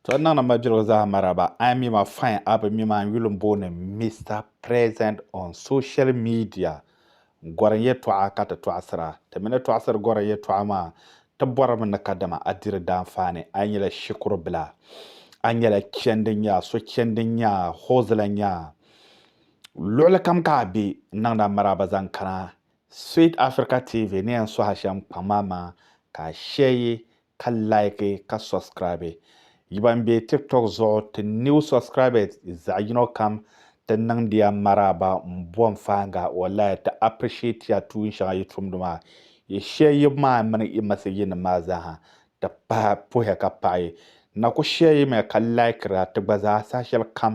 To niŋ ni majirigu zaa maraba. I mi ma fine a bi mi ma n yuli n booni Mister Present on social media n gorim yɛtɔɣa ka ti tɔɣisira. Ti mi ni tɔɣisiri gorim yɛtɔɣa maa ti borimi ni kadama a diri daanfaani, a nyɛla shikuru bila, a nyɛla chendi nyaa, so chendi nyaa, hozila nyaa, luɣili kam ka a be n niŋdi a maraba zaŋ kana Sweet Africa TV ni yɛn sohi a shɛm kpaŋ maa maa ka a sheeyi ka like ka subscribe yi ban be tiktok zuɣu ti new subscribers zaɣi yino kam ti niŋdiya maraaba m bo m fahinga wallai ti appreciatiya tuun shɛŋa yi tumdi maa yi shɛyibu maa mini yi masejinim maa zaaha ti pahi puhiya ka paɣi na ku shɛyimiya ka likera ti gba zaa saha shɛli kam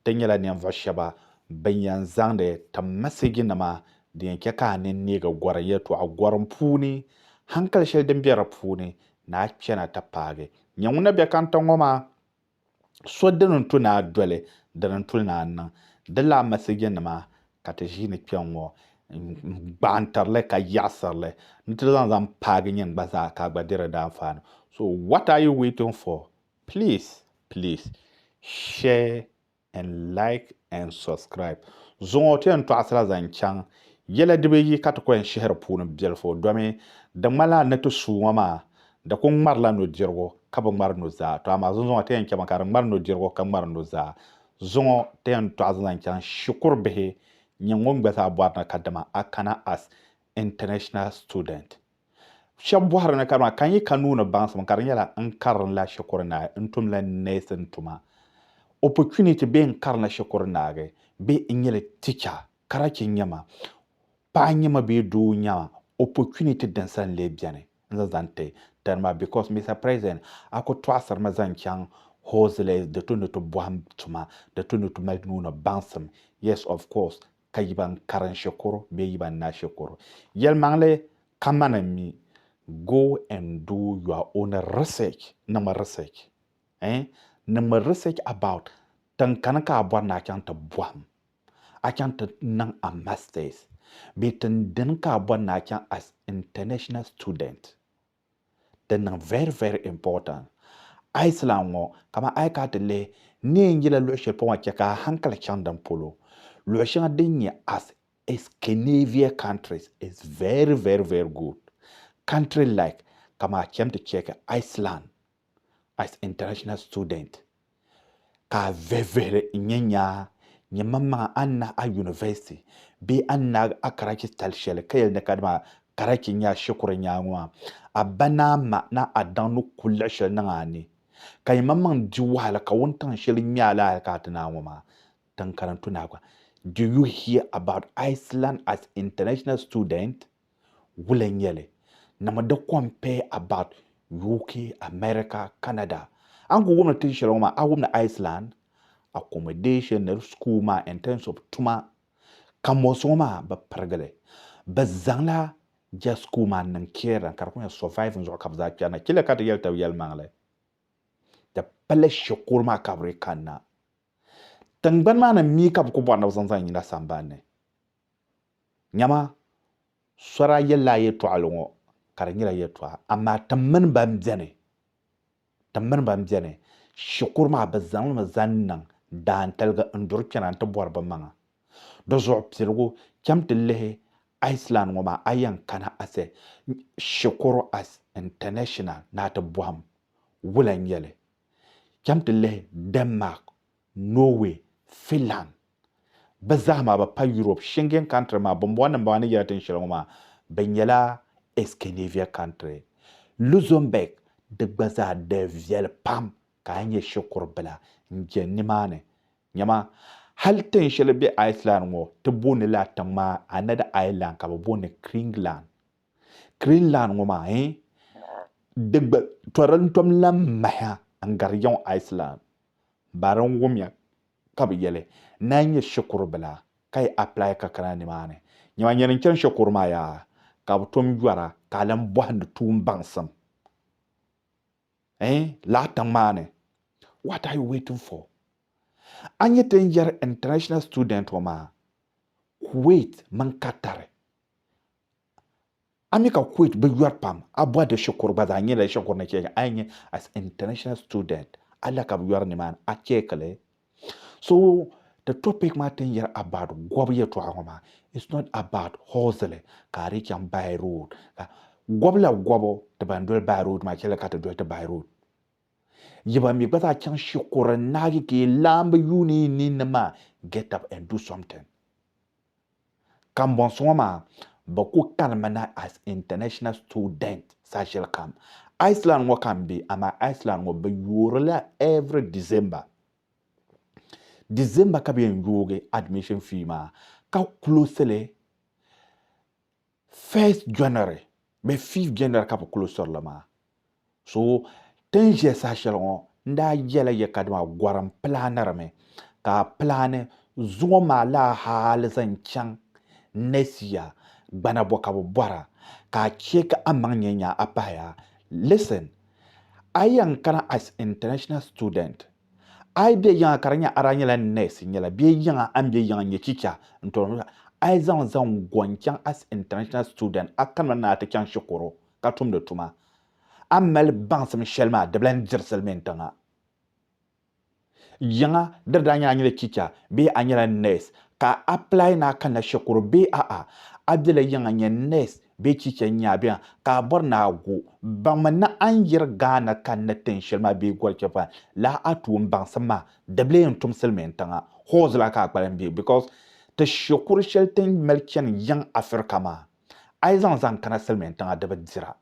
ti nyɛla ninvuɣu shɛba bin yɛn zaŋdi ti masejinima Di yɛn chɛ ka a nini neegi gɔrim yɛltɔɣa gɔrim puuni, hankali shɛli din be di puuni ni a kpɛna ti paagi. Nyɛ ŋun na be kanta ŋɔ maa, So dini n-tu ni a doli, dini n-tuli ni a niŋ. Di lala mɛsiginima ka ti ʒiini kpɛŋŋɔ n-gbaantiri li ka yiɣisiri li ni ti zaŋ zaŋ paagi nyini gba zaa ka a gba di di daanfaani. So what are you waiting for? Please, please, share and like and subscribe zuŋɔ ti yɛn tɔɣisira zaŋ chaŋ yɛla dibi yi ka ti ku yɛn shihiri puuni biɛlifu domi di ŋmanila n ni ti suu ŋɔ maa di ku ŋmarila nudirigu ka bi ŋmari nuzaa tɔ amaa zunzuŋɔ ti yɛn chɛmi ka di ŋmari nudirigu ka ŋmari nuzaa zuŋɔ ti yɛn tɔɣisi zaŋ chaŋ shikuru bihi nyɛ ŋun gba zaa bɔri ni ka dama a kana as international student. Shɛba bɔhiri ni kadama ka n yi ka nuu ni baŋsim ka di nyɛla n karinla shikuru naagi n tumla neesin tuma, opportunity bee n karinla shikuru naagi bee n nyɛla ticha, karachi n nyɛ ma, paɣa n nyɛ ma bee doo n nyɛ ma, opportunity din sa n-lee beni n zaŋ zaŋ ti tani maa because Mister President a ku tɔɣisiri ma zaŋ chaŋ Hozley di tu ni ti bɔhim tuma di tu ni ti mali nuu ni baŋsim, yes of course. ka yi ban karin shikuru bee yi ban naai shikuru. Yɛlimaŋli kamani mi go and do your own research, niŋmi research eh, niŋmi research about tinkani ka a bɔri ni a chaŋ ti bɔhim, a chaŋ ti niŋ a masters bee tindini ka a bɔri ni a chaŋ as international student. Di niŋ very very important. A yi silan ŋɔ, kaman a yi kana ti lihi neen yila luɣ shɛli polo maa chɛ ka a hankali chaŋ din polo. Luɣ shɛŋa din nyɛ as Escanavia countries is very very very good. Country like kaman a cham ti chɛki Iceland as international student ka a vihivihili n-nyɛ nyaa nyɛ maŋmaŋa a ni nahi a university bee a ni naagi a Karachi tali shɛli ka yɛli ni ka dama Karachi n-nyɛ a shikuru nyaa ŋɔ maa, a ba ni a ma ni a daŋ ni ku liɣi shɛli niŋ a ni ka nyɛ maŋmaŋ di wahala ka wuntaŋ shɛli ŋmɛ a lahi hali ka a ti naai ŋɔ maa tiŋkariŋ tu naai gba. Do you hear about Iceland as international student? wula n nyɛli na mi di compare about UK, America, Canada a ni ku wumdi tin shɛli ŋɔ maa a wumdi Iceland accommodation ni di school maa in terms of tuma ka mɔɣisi ŋɔ maa bi pirigili bi zaŋla ja school maa niŋ caring ka di kuli nyɛ surviving zuɣu ka bi zaa chani na chila ka ti yɛli taba yɛlimaŋli di pala shikuru maa ka bi di kanna tingbani maa ni mi ka bi ku bɔri ni bi zaŋ zaŋ yina sambani ni Nyama, sɔra yɛlila a yɛtɔɣili ŋɔ, ka di nyɛla yɛtɔɣa, amaa tim mini bɛn beni, tim mini bɛn beni shikuru maa bɛ zaŋ li mi zaŋ niŋ daantaligi n-duri kpɛna nti bɔri bɛ maŋa. Di zuɣu piligu, cham ti lihi Iceland ŋɔ maa, a yɛn kana ase shikuru as international ni a ti bɔhim wula n-nyɛ li. Cham ti lihi Denmark. Norway, Finland bɛ zaa maa bɛ pa Europe Schengen country maa bɔmbɔŋɔ nim bɔŋɔ a ni yɛra tin shɛli ŋɔ maa bɛ nyɛla Escanavia country. Luxembourg di gba zaa di viɛli pam ka a nyɛ shikuru bila n jɛn ni maa ni. Nyama, hali tin shɛli bɛ Iceland ŋɔ ti booni la a tiŋ maa a ni di Ireland ka bɛ booni Kringland. Kringland ŋɔ maa eh di gba tɔri n tom lan mahi a n gari yɛŋ Iceland. Bari n wumya ka bɛ yɛli na n-nyɛ shikuru bila ka yi apply ka kana nimaani. Nyama nyɛli n-chani shikuru maa yaa ka bɛ tom yɔra ka a lan bɔhindi tuun baŋsim ɛɛn lala tiŋ maa ni. What are you waiting for? A ni ti ni yɛri international student ŋɔ maa Kuwait mini Qatar. Ami ka Kuwait bi yɔri pam, a bɔhi di shikuru gba zaa nyɛla shikuru ni cheeki a yi nyɛ as international student a la ka bi yɔri nimaani a cheeki li. So the topic maa tin yɛri about gɔbu yɛtɔɣa ŋɔ maa it's not about hozili ka a dii chaŋ by road ka gɔbu la gɔbu ti ban doli by road maa chɛli ka ti doli ti by road yi ban mi gba zaa chaŋ shikuru n naagi ka yi laambi yuuni yi ninni maa get up and do something Kambɔnsi ŋɔ maa, bɛ ku kanimi na as international student saha shɛli kam. Iceland ŋɔ ka n be, amaa Iceland ŋɔ bɛ yoori li every December. December ka bɛ yɛn yoogi admission fee maa ka close li First January bee fifth January ka bɛ kuli sɔri li maa. So ti ni ʒiya saha shɛli ŋɔ n daa yɛla ya ka dama gɔrim pilaanirimi ka a pilaani zuŋɔ maa laa hali zaŋ chaŋ next year gbana bɔ ka bɛ bɔra ka a chɛ ka a maŋ nyɛ nyaa a pahaya. Listen, a yɛn kana as international student. A yi be yiŋa ka di nyɛ a daa nyɛla nɛsi nyɛla bee yiŋa a ni be yiŋa n-nyɛ chicha n-tɔri nuu la, a yi zaŋ zaŋ go n-chaŋ as international student a kanimi ni a ti chaŋ shikuru ka tumdi tuma. A mali baŋsim shɛli maa di bi lan diri silimiin tiŋa. Yiŋa diri daa nyɛla a nyɛla chicha bee a nyɛla nɛsi ka a apply ni a kanna shikuru bee a'a, a bela yiŋa n-nyɛ nɛsi Bɛ chicha nya bɛ a ka a bɔri ni a gu baŋmi ni a ni yiri Ghana kanna tin shɛli maa bee Gɔlchɛfa la a tuun baŋsim maa di bi lee n-tum Silimiin tiŋa hall zaa ka a kpalim be because ti shikuru shɛli ti ni mali chani yiŋ Afirika maa a yi zaŋ zaŋ kana Silimiin tiŋa di bi dira.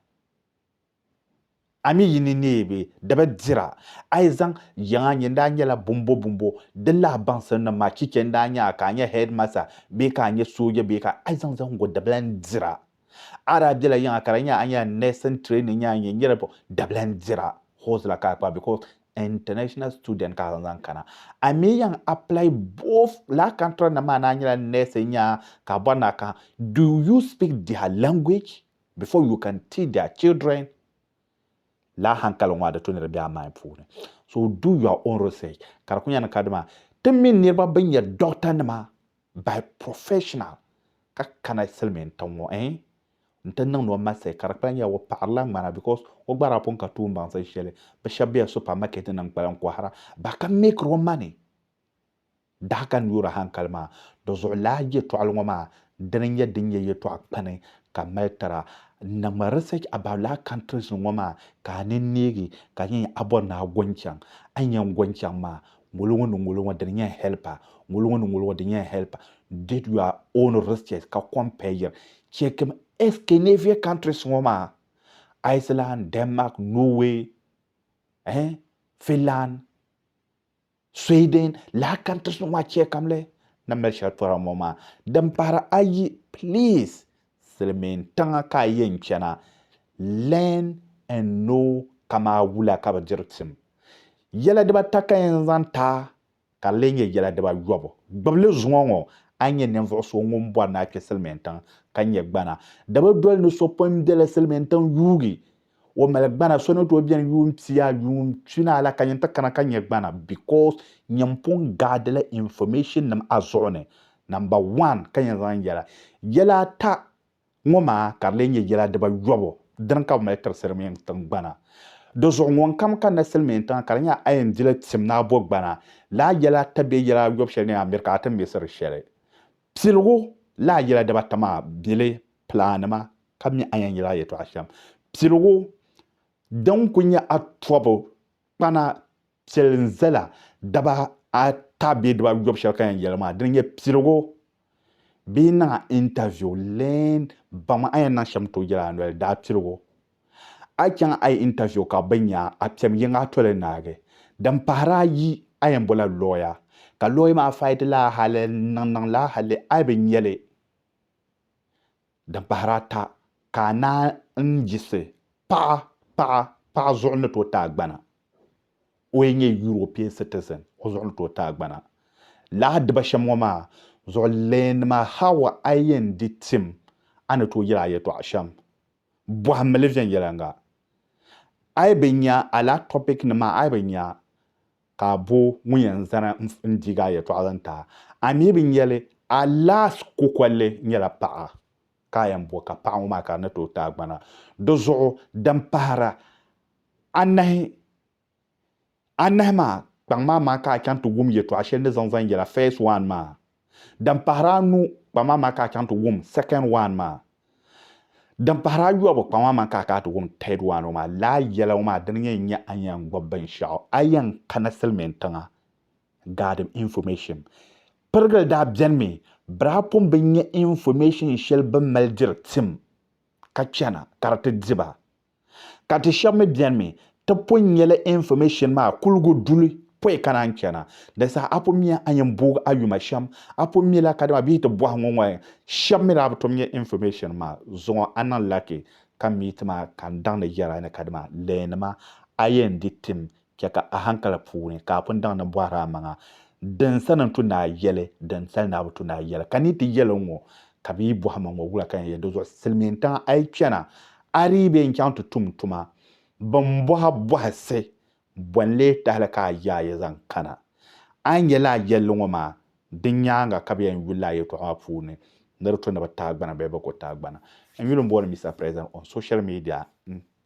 A mi yi ni neei bɛ daba dira, a yi zaŋ yiŋa n-nyɛ n daa nyɛla bumbo bumbo, di lahi baŋsim ni ma chicha n daa nya a ka a nyɛ headmaster bee ka a nyɛ sooja bee ka a yi zaŋ zaŋgo dabila n-dira. A daa bela yiŋa ka di nya a nyɛla nursing training nya a nyɛ niriba dabila n-dira, horse la ka a kpa because international student ka a zaŋ zaŋ kana. A mi yan apply both laa contract nim maa ni a nyɛla nurse nya ka a bɔri ni a kahi do you speak their language? before you can teach their children laa hankali ŋɔ adi to ni di be a mind puuni so do your own research ka di ku nyɛ ni ka dima ti mi niriba bin nyɛ doctor nima by professional ka kana silimiin tiŋ ŋɔ en n ti niŋdi o message ka di kpala nyɛla o paɣirila ŋmana because o gba daa pun ka tuun baŋsim shɛli bi shɛba be super market ni n kpalim kɔhira ba ka make ro money Daɣi ka n yoori hankali maa di zuɣu laa yɛtɔɣili ŋɔ maa dini nyɛ din nyɛ yɛtɔɣa kpani ka m mali tira. N niŋmi research about laa countries ŋɔ maa ka a nini neegi ka n yɛn a bɔri ni a go n-chaŋ. A ni yɛn go n-chaŋ maa ŋolo ŋɔ ni ŋolo ŋɔ dini nyɛ n help a, ŋolo ŋɔ ni ŋolo ŋɔ dini nyɛ n help a. Did your own research ka compare-yiri. Chekim Escanavia countries ŋɔ maa, Iceland, Denmark, Norway, eh, Finland. Sweden laakantiri so ŋɔ chɛ kam li ni mali shɛli tora ŋɔ maa din pahiri ayi please silimiin tiŋa ka a yɛn chana learn and know kamaa wula ka bi diri tim yɛla dibata ka yɛn zaŋ ta ka di lee nyɛ yɛla dibayobu gbibili zuŋɔ ŋɔ a ni nyɛ ninvuɣu so ŋun bɔri ni a kpe silimiin tiŋ ka nyɛ gbana di bi doli ni so pun bela silimiin tiŋ yuugi o mali gbana so ni tooi bɛni yuun pia yuun pina la ka nyin ti kana ka nyɛ gbana because nyin pun gaadila information nim a zuɣu ni number one ka yɛn zaŋ yɛla yɛla ata ŋɔ maa ka di lee nyɛ yɛla dibayobu dini ka bi mali tiri silimiin tingbana di zuɣu ŋunkam kanila silimiin tiŋa ka di nyɛ a yɛn dila tim ni a bo gbana laa yɛla ata bee yɛla ayobu shɛli ni a miri ka a ti miɣisiri shɛli Piligu la a yɛla dibata maa bili pilaanima ka mi a yɛn yɛli a yɛtɔɣa shɛm. Piligu din ku nyɛ a tɔbu kpana piɛli n-zala daba ata bee diba yɔbu shɛli ka yɛn yɛli maa dini nyɛ piligu bee niŋ a interview leei baŋmi a yɛn niŋ shɛm tooi yɛli a noli daa piligu A yi chaŋ a yi interview ka bɛ nya a kpɛm yiŋa a toli naagi. Din pahiri ayi, a yɛn bola lawyer ka lawyer maa fight li a hali n niŋ niŋ li a hali a yi bi nya li. Din pahiri ata, ka a naan n yiɣisi paɣa paɣa paɣa zuɣu ni tooi ti a gbana. O yi nyɛ European citizen, o zuɣu ni tooi ti a gbana. Lala diba shɛm ŋɔ maa zuɣu lawyer nima how a yi yɛn di tim a ni tooi yɛli a yɛltɔɣa shɛm. Bɔhim mili viɛnyɛliŋga. A yi bi nya a lala topic nim maa a yi bi nya ka a bo ŋun yɛn zani n diigi a yɛltɔɣa zaŋ ti a. A mi bi nya li a last kokolli nyɛla paɣa ka a yɛn bo ka paɣa ŋɔ maa ka di ni tooi ti a gbana. Di zuɣu din pahira anahi anahi maa kpaŋ maa maa ka a chaŋ ti wum yɛtɔɣ shɛli ni zaŋ zaŋ yɛla first one maa. Din pahiri anu kpaŋ maa maa ka a chaŋ ti wum second one maa. Din pahiri ayɔbu kpaŋ maa maa ka a kana ti wum third one ŋɔ maa. Lala yɛla ŋɔ maa dini n-yɛn nyɛ a ni yɛn gbubi binshɛɣu a yɛn kana silimiin tiŋa gaadim information. Pirigili daa bɛnimi Brapum bi nya information shɛli bɛ mali diri tim ka chana ka di ti di ba. Ka ti shɛba mi beni mi ti pun nya li information maa kuligu duli pɔi kana n-chana. Di saha a pun miya a yɛn booi a yuma shɛm a pun mi la kadama bɛ yi ti bɔhi ŋɔ ŋɔ shɛba mi daa bi tom nya information maa zuɣu a niŋ lucky ka meet ma ka n daŋ ni yɛra ni kadama leenima a yɛn di tim Chɛ ka a haŋkali puuni ka a pun daŋ ni bɔhir a maŋa, Din sani n-tu ni a yɛli, din sali ni a bi tu ni a yɛli? Ka ni yi ti yɛli n ŋɔ, ka bɛ yi bɔhi ma ŋɔ, wula ka n yɛn yɛli? Dinzuɣu silimiintiŋa, a yi chana, a dii bee n-chaŋ ti tum n tuma? Bɛ ni bɔhi a bɔhisi, bɔ n-lee tahili ka a yaai ya zaŋ kana? A ni yɛli a yɛlli ŋɔ maa, di nyaaŋa ka bɛ yɛn yuli a yɛtɔɣa maa puuni ni di tu ni bɛ tahigbana bee bɛ ko tahigbana. N yuli m-booni Mister President on social media n